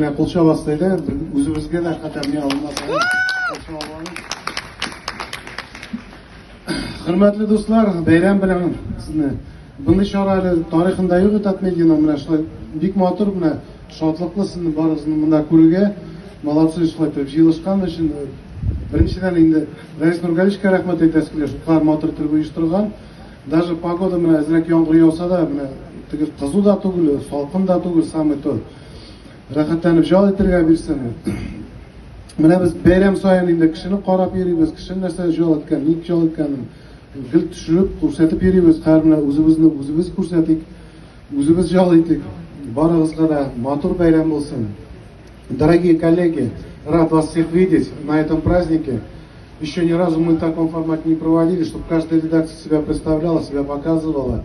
Менә кул чабасы диде, үзебезгә дә хәтәрни алмас. Хөрмәтле дуслар, бәйрәм белән сезне. Мондый чара әле тарихында юк Татмедианың менә шулай бик матур менә шатлыклы сезне барыгызны монда күрергә. Молодцы шулай итеп җыелышкан өчен. Беренчедән инде Рәис Нургаличка рәхмәт әйтәсе килә, шулкадәр матур итеп оештырган. Даже погода менә әзрәк яңгыр яуса да, менә теге кызу да түгел, салкын да түгел, самый то. Рәхәтләнеп җал итергә бирсен. Менә без бәйрәм саен инде кешене карап йөрибез, кешенең нәрсә җал иткән, ник җал иткәнен гел төшереп, күрсәтеп йөрибез. Хәзер менә үзебезне үзебез күрсәтик, үзебез җал итик. Барыгызга да матур бәйрәм булсын. Дорогие коллеги, рад вас всех видеть на этом празднике. Еще ни разу мы в таком формате не проводили, чтобы каждая редакция себя представляла, себя показывала.